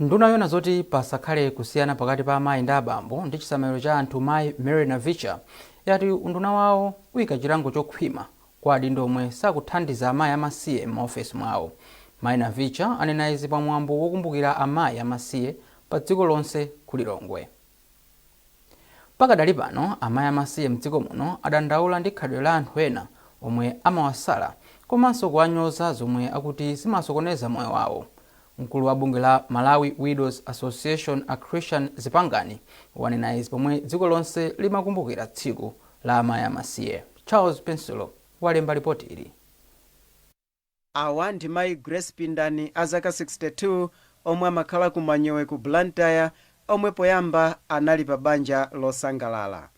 Nduna yoona zoti pasakhale kusiyana pakati pa amayi ndi abambo ndi chisamaliro cha anthu mayi Mary Navicha yati unduna wawo uyika chilango chokhwima kwa adindo omwe sakuthandiza amayi amasiye m'maofesi mwawo. Mayi Navicha anena izi pa mwambo wokumbukira amayi amasiye pa dziko lonse ku Lilongwe. Pakadali pano, amayi amasiye mdziko muno adandaula ndi khalidwe la anthu ena omwe amawasala komanso kuwanyoza zomwe akuti zimasokoneza moyo wawo. Mkulu wa bungwe la Malawi Widows Association a Christian Zipangani wanena izi pomwe dziko lonse limakumbukira tsiku la amayi amasiye. Charles Pensulo walemba lipotili. Awa ndi mayi Grace Pindani a zaka 62 omwe amakhala ku Manyowe ku Blantyre omwe poyamba anali pa banja losangalala.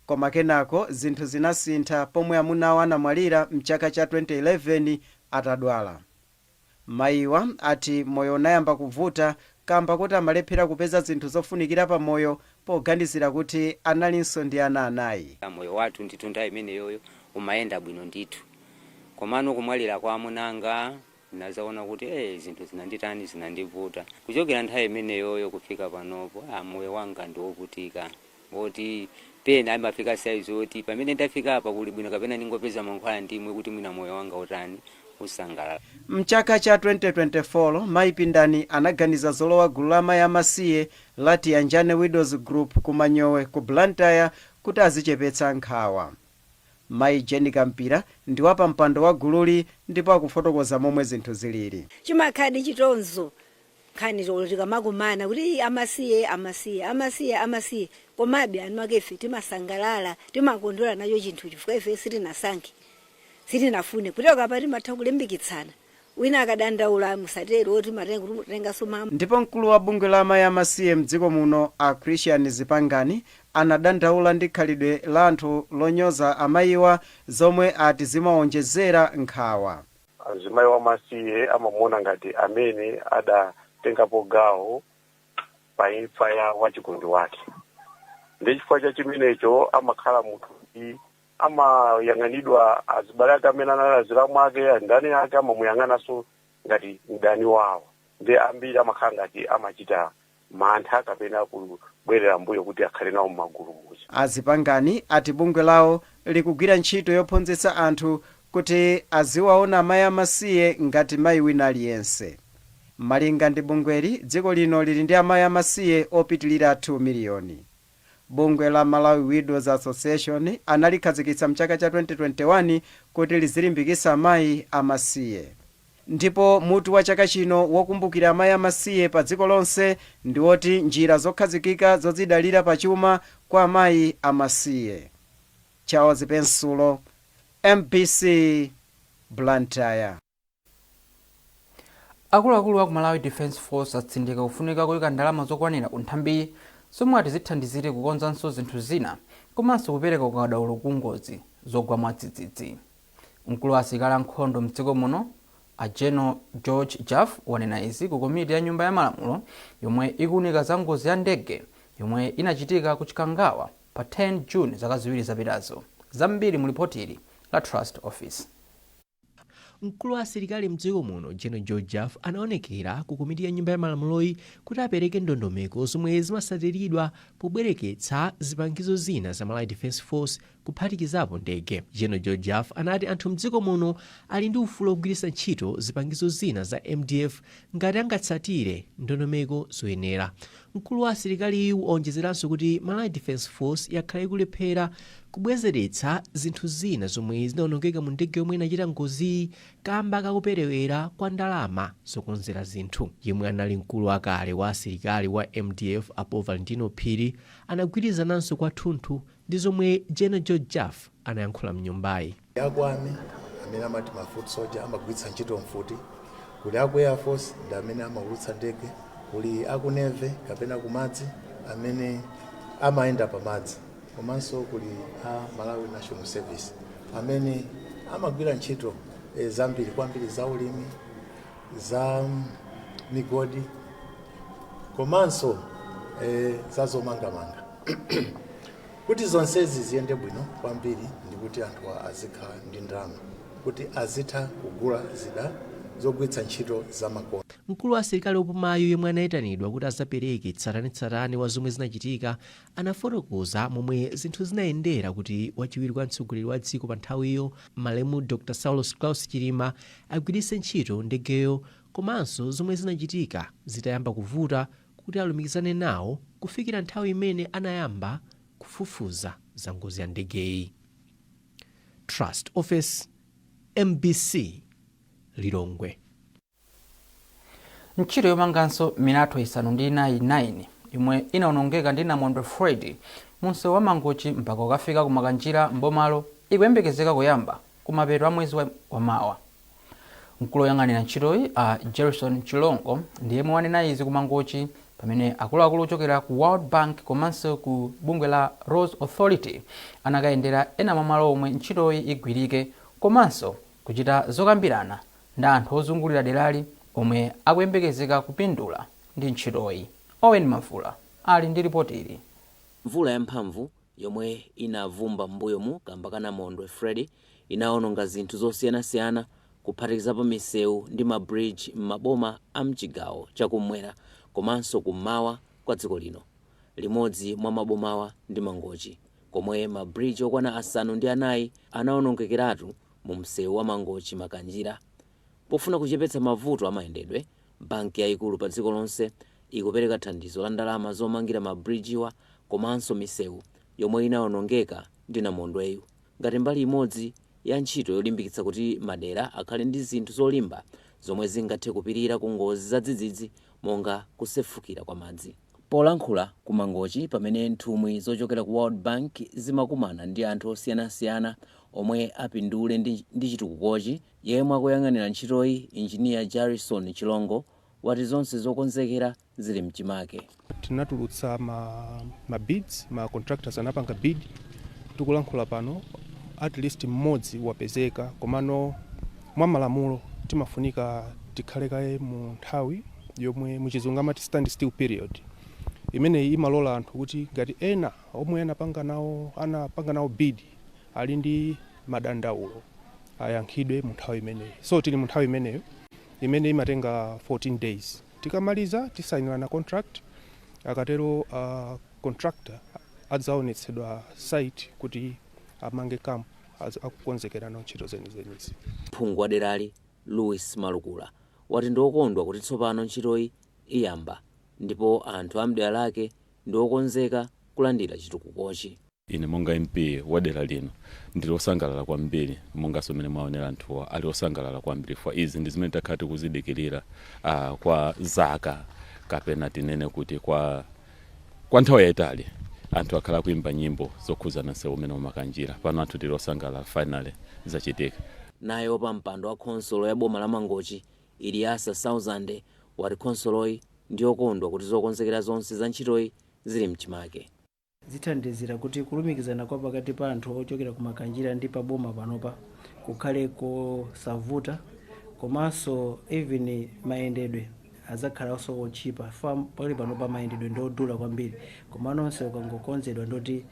Koma kenako zinthu zinasintha pomwe amuna awo anamwalira mchaka cha 2011 atadwala. Mayiwa ati moyo unayamba kuvuta kaamba koti amalephera kupeza zinthu zofunikira pa moyo poganizira kuti analinso ndi ana anayi. Moyo wathu ndithu nthawi imeneyoyo umayenda bwino ndithu. Komano kumwalira kwa amuna anga ndinadzaona kuti ee zinthu zinanditani, zinandivuta. Kuchokera nthawi imeneyoyo kufika panopo aa moyo wanga ndi wovutika woti pena imafika saizi yoti pamene ndafikapa kuli bwino kapena ndingopeza mankhwala ndimwe kuti mwina moyo wanga utani, usangalale. M'chaka cha 2024, mayi Pindani anaganiza zolowa gulu la amayi amasiye la Tiyanjane Widows Group ku Manyowe ku Blantyre kuti azichepetsa nkhawa. Mayi Jane Kampira ndi wapampando wa gululi ndipo akufotokoza momwe zinthu zilili. Chimakhaladi chitonzo nkhani olo tikamakumana kuti ii amasiye amasiye amasiye amasiye komabe anu ake ife timasangalala timakondwera nacho chinthu chifukwa ife sitinasankhe sitinafune kuchoka apa timatha kulimbikitsana Wina akadandaula musatero oti matenga kuti mutenganso ma. Ndipo mkulu wa bungwe la amayi amasiye mdziko muno a Christian Zipangani anadandaula ndi khalidwe la anthu lonyoza amayiwa zomwe ati zimawonjezera nkhawa. Mzimayi wamasiye amamuona ngati amene adatengapo gawo pa imfa ya wachikondi wake ndiye chifukwa cha chimenecho amakhala munthu woti amayang'anidwa azibale ake amene anali azilamu ake anzake amamuyang'ananso ngati mdani wawo ndi ambiri amakhala ngati amachita mantha kapena kubwerera mbuyo kuti akhale nawo m'magulu muja A Zipangani ati bungwe lawo likugwira ntchito yophunzitsa anthu kuti aziwaona amayi amasiye ngati mayi wina aliyense. Malinga ndi bungweli, dziko lino lili ndi amayi amasiye opitilira 2 miliyoni. Bungwe la Malawi Widows Association analikhazikitsa mchaka cha 2021 kuti lizilimbikitsa amayi amasiye. Ndipo mutu wa chaka chino wokumbukira amayi amasiye pa dziko lonse ndi woti Njira zokhazikika zodzidalira pa chuma kwa amayi amasiye. Charles Pensulo, mbc, Blantyre. Akuluakulu aku Malawi Defence Force atsindika kufunika koika ndalama zokwanira ku nthambiyi zomwe ati zithandizire kukonzanso zinthu zina komanso kupereka ukadaulo ku ngozi zogwa mwadzidzidzi. Mkulu wa asilikali a nkhondo m'dziko muno a General George Jaffu wanena izi ku komiti ya nyumba ya malamulo yomwe ikuunika za ngozi ya ndege yomwe inachitika ku Chikangawa pa 10 June zaka ziwiri zapitazo. Zambiri mu lipoti ili la Trust Ofesi. Mkulu wa asilikali mdziko muno General George Jaffu anaonekera ku komiti ya nyumba ya malamuloyi kuti apereke ndondomeko zomwe zimatsatiridwa pobwereketsa zipangizo zina za Malawi Defence Force kuphatikizapo ndege. General George Jaffu anati anthu mdziko muno ali ndi ufulu ogwiritsa ntchito zipangizo zina za mdf ngati angatsatire ndondomeko zoyenera. Mkulu wa asilikaliyu waonjezeranso kuti Malawi Defence Force yakhala ikulephera kubwezeretsa zinthu zina zomwe zinaonongeka mu ndege yomwe inachita ngoziyi kamba ka kuperewera kwa ndalama zokonzera zinthu. Yemwe anali mkulu wakale wa asilikali wa mdf a Paul Valentino Phiri anagwirizananso kwathunthu ndi zomwe General George Jaffu anayankhula mnyumbayi. Aku Army amene amati ma foot soldier amagwiritsa ntchito mfuti, kuli aku Air Force ndi amene amaulutsa ndege, kuli aku Navy kapena kumadzi amene amayenda pamadzi komanso kuli a Malawi National Service amene amagwira ntchito zambiri kwambiri za ulimi, za migodi komanso za zomangamanga. Kuti zonsezi ziyende bwino kwambiri ndi kuti anthu azikhala ndi ndalama kuti azitha kugula zida zogwiritsa ntchito zamakono. Mkulu wa asilikali opumayu yemwe anaitanidwa kuti azapereke tsatanetsatane wa zomwe zinachitika anafotokoza momwe zinthu zinayendera kuti wachiwiri kwa mtsogoleri wa dziko pa nthawiyo malemu Dr Saulos Klaus Chilima agwiritse ntchito ndegeyo komanso zomwe zinachitika zitayamba kuvuta kuti alumikizane nawo kufikira nthawi imene anayamba kufufuza za ngozi ya ndegeyi. Trust Ofesi, mbc, Lilongwe. Ntchito yomanganso milatho isanu ndi inayi 9 yomwe inaonongeka ndi namondwe Freddy munsewu wa Mangochi mpaka ukafika ku Makanjira m'bomalo ikuyembekezeka kuyamba kumapeto a mwezi wa mawa. Mkulu oyang'anira ntchitoyi a Jerison Chilongo ndi yemwe wanena izi ku Mangochi pamene akuluakulu ochokera ku World Bank komanso ku bungwe la Roads Authority anakayendera ena mwa malo omwe ntchitoyi igwirike komanso kuchita zokambirana ndi anthu ozungulira derali omwe akuyembekezeka kupindula ndi ntchitoyi. Owen Mavula ali ndi lipoti ili. Mvula yamphamvu yomwe inavumba m'mbuyomu kamba ka namondwe Freddy inawononga zinthu zosiyanasiyana kuphatikizapo misewu ndi ma bridge m'maboma a m'chigawo cha kummwera komanso kummawa kwa dziko lino. Limodzi mwa mabomawa ndi Mangochi, komwe ma bridge okwana asanu ndi anayi anawonongekeratu mu msewu wa Mangochi-Makanjira Pofuna kuchepetsa mavuto a mayendedwe, banki yaikulu padziko lonse ikupereka thandizo la ndalama zomangira mabirijiwa komanso misewu yomwe inawonongeka ndi namondweyu, ngati mbali imodzi ya ntchito yolimbikitsa kuti madera akhale ndi zinthu zolimba zomwe zingathe kupirira ku ngozi zadzidzidzi monga kusefukira kwa madzi. Polankhula ku Mangochi pamene nthumwi zochokera ku World Bank zimakumana ndi anthu osiyanasiyana omwe apindule ndi chitukukochi, Yemwe akuyang'anira ntchitoyi, Engineer Jerison Chilongo, wati zonse zokonzekera zili mchimake. Tinatulutsa ma bids, ma contractors anapanga bid, tikulankhula pano atleast mmodzi wapezeka komano mwa malamulo timafunika tikhale kaye mu nthawi yomwe mu chizungu amati stand still period, imeneyi imalola anthu kuti ngati ena omwe anapanga nawo bid, ali ndi madandaulo ayankhidwe mu nthawi imeneyi. So tili mu nthawi imeneyo imene imatenga 14 days. Tikamaliza tisainirana contract, akatero uh, contractor adzaonetsedwa site kuti amange camp az- akukonzekerano ntchito zenizenizi. Phungu wa derali Louis Malukula wati ndi okondwa kuti tsopano ntchitoyi iyamba ndipo anthu a m'dera lake ndi okonzeka kulandira chitukukochi. Ine monga MP wa dera lino ndili osangalala kwambiri mongaso mmene mwaonera anthu ali osangalala kwambri chifukwa izi ndi zimene takhala tikuzidikilira a kwa zaka kapena tinene kuti kwa kwa nthawi yayitali anthu akhala akuimba nyimbo zokhuzana nsewu umene wa Makanjira pano anthu tili osangalala finally zachitika. Naye wapampando wa khonsolo ya boma la Mangochi Iliasa Sauzande wati khonsoloyi ndiyokondwa kuti zokonzekera zonse za ntchitoyi zili mchimake. zithandizira kuti kulumikizana kwa pakati pa anthu ochokera ku Makanjira ndi pa boma panopa kukhale kosavuta komanso even mayendedwe adzakhalanso otchipa chifukwa pali panopa mayendedwe ndi odula kwambiri koma msewu ukangokonzedwa ndiye kuti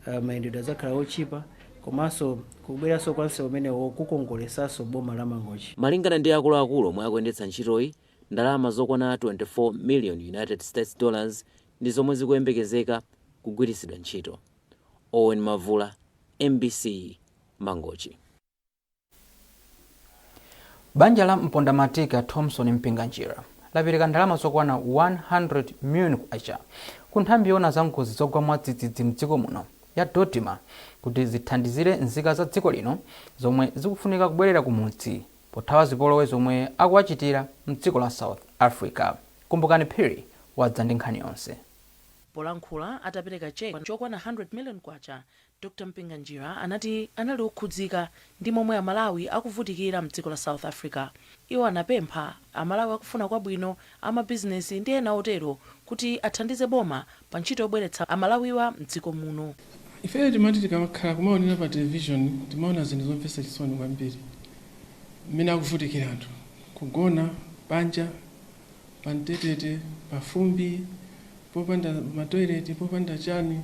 uh, mayendedwe adzakhala otchipa komanso kubweranso kwa msewu umenewo kukongoletsanso boma la Mangochi. Malingana ndi akuluakulu omwe akuyendetsa ntchitoyi, ndalama zokwana 24 million United States dollars ndi zomwe zikuyembekezeka kugwiritsidwa ntchito. Owen Mavula, mbc, Mangochi. Banja la mpondamatiki a Thomson Mpinganjira lapereka ndalama zokwana 100 million kwacha ku nthambi yoona za ngozi zogwa mwadzidzidzi mdziko muno ya DoDMA kuti zithandizire nzika za dziko lino zomwe zikufunika kubwerera kumudzi pothawa zipolowe zomwe akuwachitira mdziko la South Africa. Kumbukani Phiri wadza ndi nkhani yonse. Polankhula atapereka cheque chokwana 100 million kwacha, Dr Mpinganjira anati anali okhudzika ndi momwe amalawi akuvutikira mdziko la South Africa. Iwo anapempha amalawi akufuna kwabwino amabizinesi ndi ena otero kuti athandize boma pa ntchito yobweretsa Amalawiwa m'dziko muno. Ife timati tikamakhala kumaonera pa television timaona zinthu zomvetsa chisoni kwambiri mmene akuvutikira anthu kugona panja pa mtetete pa fumbi popanda ma toilet popanda chani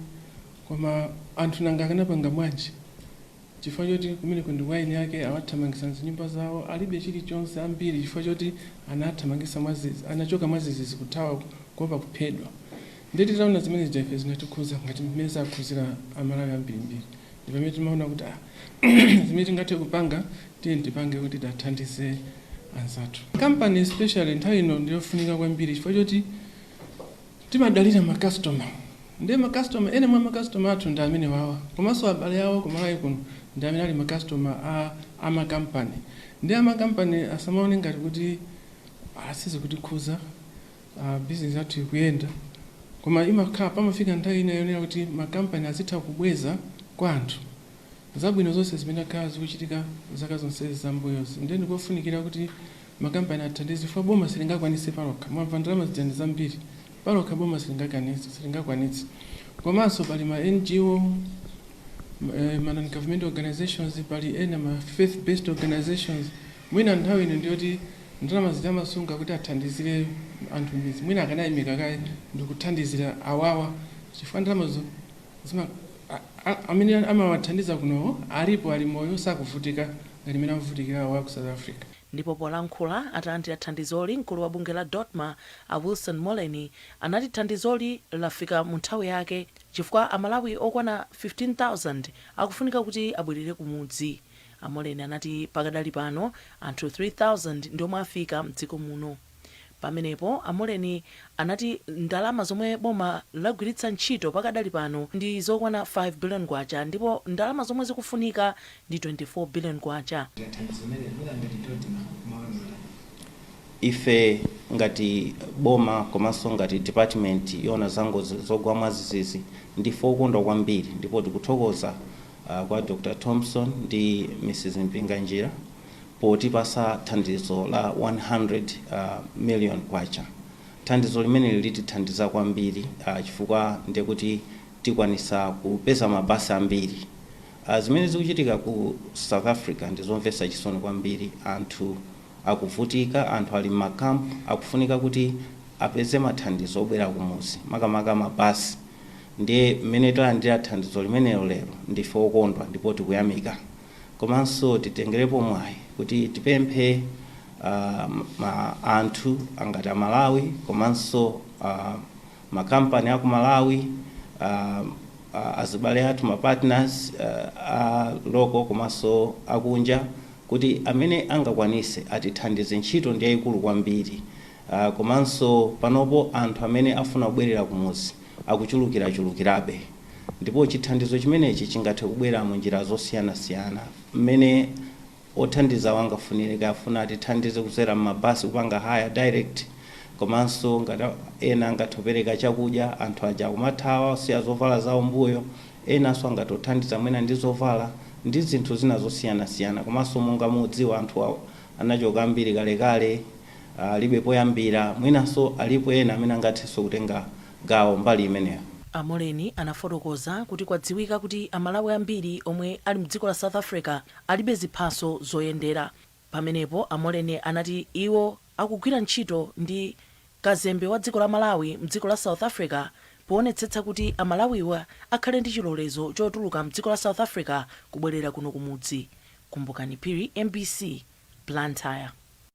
koma anthu nanga akanapanga bwanji? Chifukwa choti kumeneko ndi kwa eni ake awathamangisa mzinyumba zawo alibe chilichonse ambiri chifukwa choti anathamangitsidwa mwazizi anachoka mwazizizi kuthawa kuopa kuphedwa ndiye titaona zimene zija ife zinatikhuza ngati mmene zakhuzira amalawi ambirimbiri ndi pamene timaona kuti ah zimene tingathe kupanga tiyeni tipange kuti tathandize anzathu company especially nthawi ino ndiyofunika kwambiri chifukwa choti Timadalira ma customer nde ma customer ena mwa ma customer athu ndi amenewawa komanso abale awo ku Malawi kuno ndi amene ali ma customer a a ma company nde a ma company asamaone ngati kuti ah sizikutikhuza ah business yathu ikuyenda koma imakhala pamafika nthawi ina yonena kuti ma company azitha kubweza kwa anthu. zabwino zonse zimene akhala zikuchitika zaka zonse za m'mbuyozi ndiye ndikofunikira kuti makampani athandize chifukwa boma silingakwanitse palokha mwamva ndalama zija ndi zambiri palokha boma silingakanitse silingakwanitse komanso pali ma NGO eh, ma non-government organizations pali ena ma faith based organizations mwina nthawi ino ndiyoti ndalama zija amasunga kuti athandizire anthu m'midzi mwina akanayimika kaye ndikuthandizira awawa chifukwa ndalamazo Zima, a, a, amene amawathandiza kunowo alipo ali moyo sakuvutika ngati mmene akuvutikira awo aku South Africa. Ndipo polankhula atalandira thandizoli, mkulu wa bungwe la Dodma a Wilson Moleni anati thandizoli lafika mu nthawi yake chifukwa a Malawi okwana 15,000 akufunika kuti abwelere kumudzi. A Moleni anati pakadali pano anthu 3,000 ndi omwe afika mdziko muno. Pamenepo a Moleni anati ndalama zomwe boma lagwiritsa ntchito pakadali pano ndi zokwana K5 billion ndipo ndalama zomwe zikufunika ndi K24 billion. Ife ngati boma komanso ngati department yoona za ngozi zogwa mwazizizi ndife okondwa kwambiri ndipo tikuthokoza kwa Dr Thomson ndi Mrs Mpinganjira, potipasa thandizo la K100 million. Thandizo limeneli litithandiza kwambiri chifukwa ndiye kuti tikwanisa kupeza ma bus ambiri. Zimene zikuchitika ku South Africa ndi zomvesa chisoni kwambiri, anthu akuvutika, anthu ali mma camp akufunika kuti apeze ma thandizo obwera kumuzi makamaka ma bus. Ndiye mmene talandira thandizo limenelo lero ndife okondwa ndipo tikuyamika. komanso titengerepo mwayi kuti tipemphe um, anthu angati amalawi komanso uh, makampani aku malawi uh, uh, azibale athu mapartners uh, a local komanso akunja kuti amene angakwanise atithandize ntchito ndi yayikulu kwambiri uh, komanso panopo anthu amene afuna kubwerera kumuzi akuchulukirachulukirabe Ndipo chithandizo chimenechi chingathe kubwera mu njira zosiyanasiyana. Mmene othandizawo angafunire, kaya afuna atithandize kudzera mma bus kupanga hire direct, komanso ngati ena angathe kupereka chakudya, anthu aja akumathawa akusiya zovala zawo mbuyo, enanso angathe kuthandiza mwina ndi zovala ndi zinthu zina zosiyanasiyana. Komanso monga mukudziwa anthu anachoka ambiri kalekale, alibe poyambira, mwinanso alipo ena amene angathenso kutenga gawo mbali imeneyo. A Moleni anafotokoza kuti kwadziwika kuti a Malawi ambiri omwe ali mdziko la South Africa alibe ziphaso zoyendera. Pamenepo a Moleni anati iwo akugwira ntchito ndi Kazembe wa dziko la Malawi mdziko la South Africa powonetsetsa kuti a Malawiwa akhale ndi chilolezo chotuluka mdziko la South Africa kubwelera kuno kumudzi. Kumbukani Phiri, mbc, Blantyre.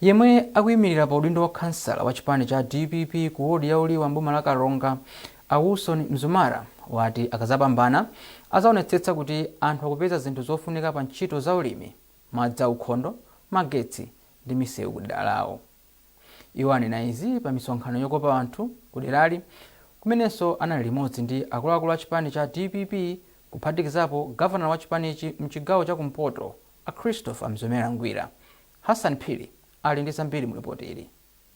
Yemwe akuimirira pa udindo wa khansala wa chipani cha dpp ku wodi ya Uliwa m'boma la Karonga, a Wilson Mzumara, wati akazapambana azaonetsetsa kuti anthu akupeza zinthu zofunika pa ntchito za ulimi, madzi a ukhondo, magetsi ndi misewu ku dera lawo. Iwo anena izi pa misonkhano yokopa anthu ku derali kumenenso anali limodzi ndi akuluakulu a chipani cha dpp kuphatikizapo gavanala wa chipanichi mchigawo cha kumpoto, A Christopher Mzomera Ngwira, Hassan Phiri ali ndi zambiri mu lipoti ili.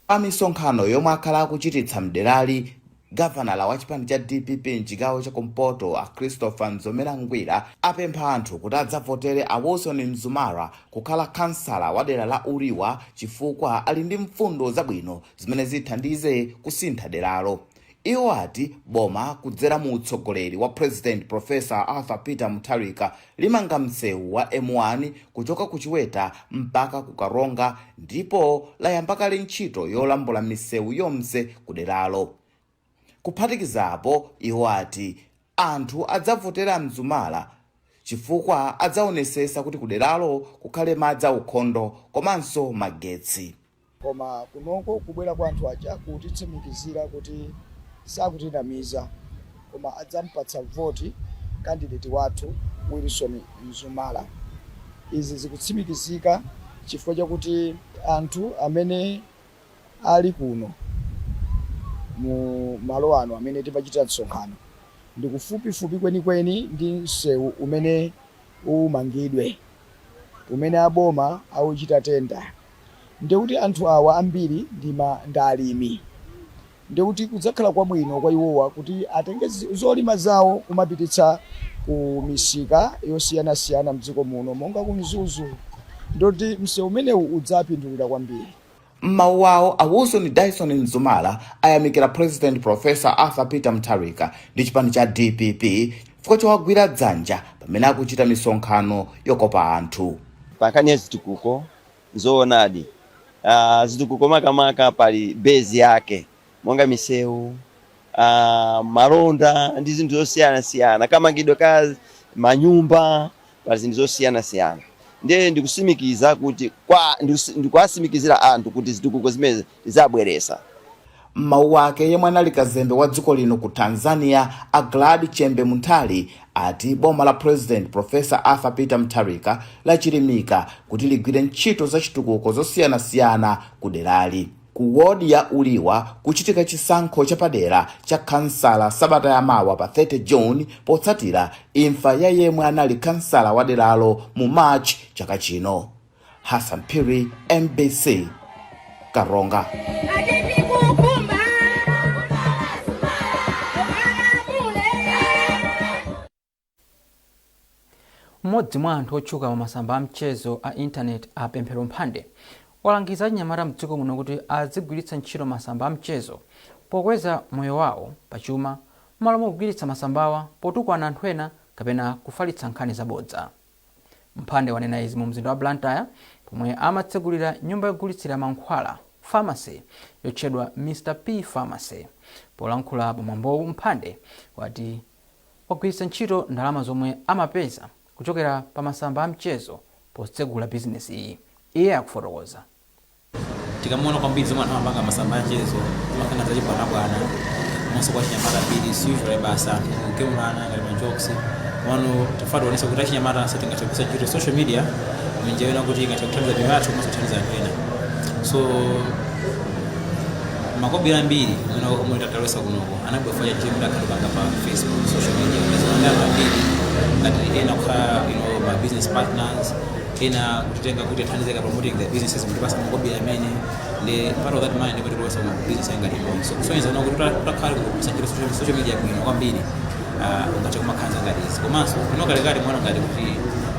Pa misonkhano yomwe akhala akuchititsa mderali, gavanala wa chipani cha dpp mchigawo cha kumpoto a Christopher Mzomera Ngwira apempha anthu kuti adzavotere a Wilson Mzumara kukhala khansala wa dera la Uliwa chifukwa ali ndi mfundo zabwino zimene zithandize kusintha deralo. Iwo ati boma kudzera mu utsogoleri wa President Professor Arthur Peter Mutharika limanga msewu wa M1 kuchoka ku Chiweta mpaka ku Karonga ndipo layamba kale ntchito yolambula misewu yonse kuderalo. Kuphatikizapo, iwo ati Anthu adzavotere Mzumara chifukwa adzaonesesa kuti kuderalo kukhale madzi aukhondo komanso magetsi. Koma kunoko kubwera kwa anthu aja kutitsimikizira kuti sakutinamiza koma adzampatsa voti kandideti wathu Wilson Mzumara. Izi zikutsimikizika chifukwa chakuti anthu amene ali kuno mu malo ano amene timachita msonkhano, ndi kufupifupi kwenikweni ndi msewu umene umangidwe, umene a boma auchita tenda. Ndikuti anthu awa ambiri ndi alimi. Ndiye kuti kudzakhala kwabwino kwa iwowa kuti atenge zolima zawo kumapititsa ku misika yosiyanasiyana m'dziko muno monga ku Mzuzu. Ndiye kuti msewu umenewu udzapindulira kwambiri. M'mawu awo, a Wilson Dyson Mzumara ayamikira President Professor Arthur Peter Mutharika ndi chipani cha dpp chifukwa chowagwira dzanja pamene akuchita misonkhano yokopa anthu. Pa nkhani ya zitukuko, Nzoonadi, zitukuko makamaka pali base yake monga misewu, malonda ndi zinthu zosiyanasiyana, kamangidwe ka manyumba, pali zinthu zosiyanasiyana ndiye ndikusimikiza kuti ndikuwasimikizira anthu kuti zitukuko zimenezi azabweresa. M'mawu ake, yemwe anali kazembe wa dziko lino ku Tanzania, a Glad Chembe Munthali ati boma la President Professor Arthur Peter Mutharika lachilimika kuti ligwire ntchito zachitukuko zosiyanasiyana ku derali. Ku ward ya Uliwa kuchitika chisankho chapadera cha khansala sabata ya mawa pa 30 June potsatira imfa ya yemwe anali khansala wa deralo mu March chaka chino. Hassan Phiri, MBC Karonga. mmodzi mwa anthu otchuka pa masamba a mchezo a intaneti a Pemphero Mphande walangiza achinyamata mdziko muno kuti azigwiritsa ntchito masamba a mchezo pokweza moyo wawo pachuma m'malo mogwiritsa masambawa potukwana anthu ena kapena kufalitsa nkhani zabodza Mphande wanena izi mu mzinda wa Blantyre pomwe amatsegulira nyumba yogulitsira mankhwala, Pharmacy, yotchedwa Mr P Pharmacy. Polankhula pa mwambowu Mphande wati wagwiritsa ntchito ndalama zomwe amapeza kuchokera pa masamba a mchezo potsegula bizinesiyi. Iye akufotokoza. tikamaona kwambiri zomwe anthu amapanga masamba a mchezo zimakhala za chibwanabwana komanso kwa achinyamata ambiri usually basi anthu kugemulana ngati majokes pano tafuna tionese kuti achinyamatafe tingathe kugwiritsa ntchito social media munjira yonena kuti ingathe kuthandiza miyoyo yathu komanso kuthandiza anthu ena so makobiri ambiri amene omwe talowesa kunoko anabwera chifukwa cha zimene ndakhala ndikupanga pa facebook social media kazimamea ambiri ngati ena kukhala you know, ma business partners ena kutitenga kuti athandizike promoting their businesses nkutipasa makobiri amene ndi part of that money ndiyo tikulowesa mu business yanga ndiponso kusonyeza kuona kuti utakhala ukugwiritsa ntchito social- social media bwino kwambiri ah, ungathe kumakhala ndi zinthu ngati izi komanso kuno kalekale timaona ngati kuti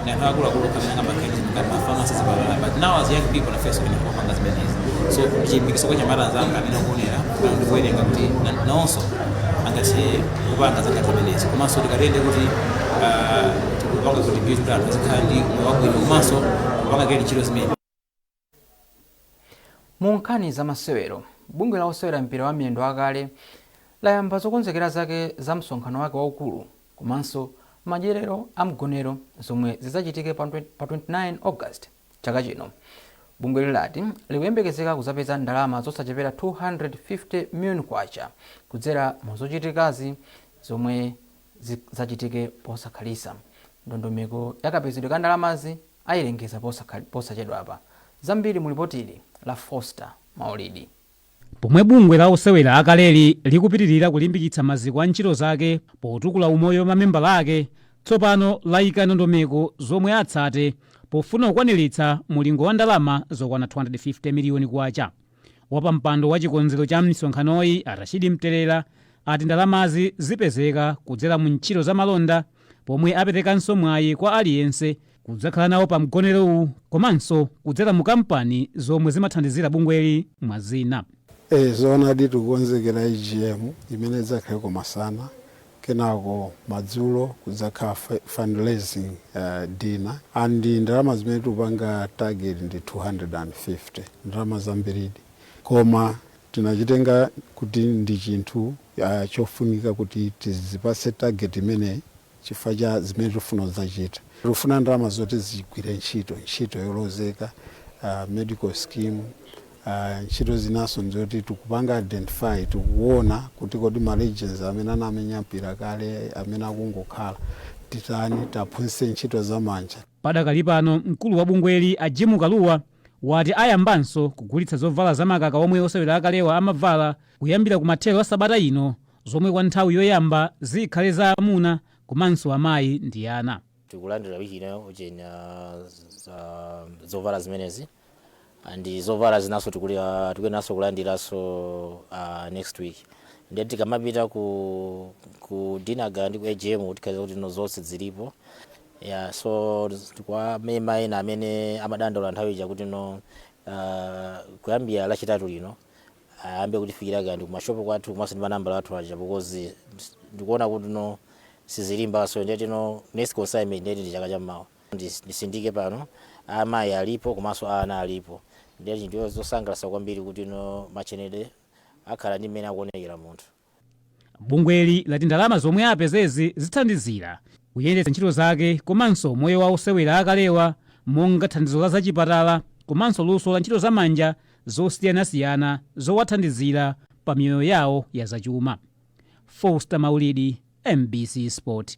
ndi anthu akuluakulu okha amene angamakhale ndi zinthu ngati mafamasi zipatala but now as young people nafenso tiyenera kumapanga zimenezi so chilimbikitso kwa anyamata anzanga amene akuonera ndikuwerenga kuti na- nawonso angathe kupanga zinthu ngati zimenezi komanso tikatere nde kuti ah, tikupanga contribute kuti anthu azikhala ndi moyo wabwino komanso kupanga create ntchito zimene mu nkhani za masewero bungwe la osewera mpira wa miyendo akale layamba zokonzekera zake za msonkhano wake waukulu komanso madyerero a mgonero zomwe zidzachitike pa 29 august Chaka chino, bungweli lati likuyembekezeka kuzapeza ndalama zosachepera K250 million kudzera mu zochitikazi zomwe zizachitike posakhalitsa. Ndondomeko ya kapezedwe ka ndalamazi ayilengeza posachedwapa. Zambiri mu lipotili la Foster Maulidi. Pomwe bungwe la osewera akaleli likupitilira kulimbikitsa maziko a ntchito zake potukula umoyo wa mamembala ake, tsopano layika ndondomeko zomwe atsate pofuna kukwaniritsa mulingo wa ndalama zokwana K250 miliyoni. Wapampando wa chikonzero cha misonkhanoyi a Rashid Mtelera ati ndalamazi zipezeka kudzera mu ntchito za malonda pomwe aperekanso mwayi kwa aliyense kudzakhala nawo pa mgonerowu komanso kudzera mu kampani zomwe zimathandizira bungweli mwa zina. Eeh zoonadi tikukonzekera AGM imene idzakhale komasana kenako madzulo kudzakhala fundraising dinner and ndalama zimene tikupanga target ndi 250, ndalama zambiridi koma tinachitenga kuti ndi chinthu chofunika kuti tidzipatse target imeneyi. chifukwa cha zimene tikufuna kudzachita. Tikufuna ndalama zoti zigwire ntchito, ntchito yolozeka, medical scheme, ntchito zinanso nzoti tikupanga identify, tikuona kuti kodi ma legends amene anamenya mpira kale, amene akungokhala, titani, tiaphunzitse ntchito za manja. Padakali pano, mkulu wa bungweli a Jim Kalua wati ayambanso kugulitsa zovala za makaka omwe osewera akalewa amavala kuyambira kumathero a sabata ino zomwe kwa nthawi yoyamba zikhale za amuna komanso amayi ndi ana. tikulandira wiki ino ujeni uh, zovala zimenezi and zovala zinaso tikuyenaso kulandiraso uh, next week ndiye tikamapita ku, ku dinner gala ndi ku AGM tikhala kuti no zonse zilipo yeah, so kwa ma member ena amene amadandaula nthawi ija kuti no uh, kuyambira lachitatu lino ayambe kutifikira kaya ndikumashop kwathu komanso ndi manambala athu aja because ndikuona kuti no sizilimba so ndiyeti no next consignment ndiyeti ndi chaka chammawa Ndis- ndisindike pano amayi alipo komanso a ana alipo ndiyeti ndiyo zosangalatsa kwambiri kuti no machenedwe akhale ndi mmene akuonekera munthu Bungweli lati ndalama zomwe apezezi zithandizira kuyendetsa ntchito zake komanso umoyo wa osewera akalewa monga thandizo la zachipatala komanso luso la ntchito za manja zosiyanasiyana zowathandizira pa miyoyo yawo ya zachuma. Foster Maulidi, MBC Sport.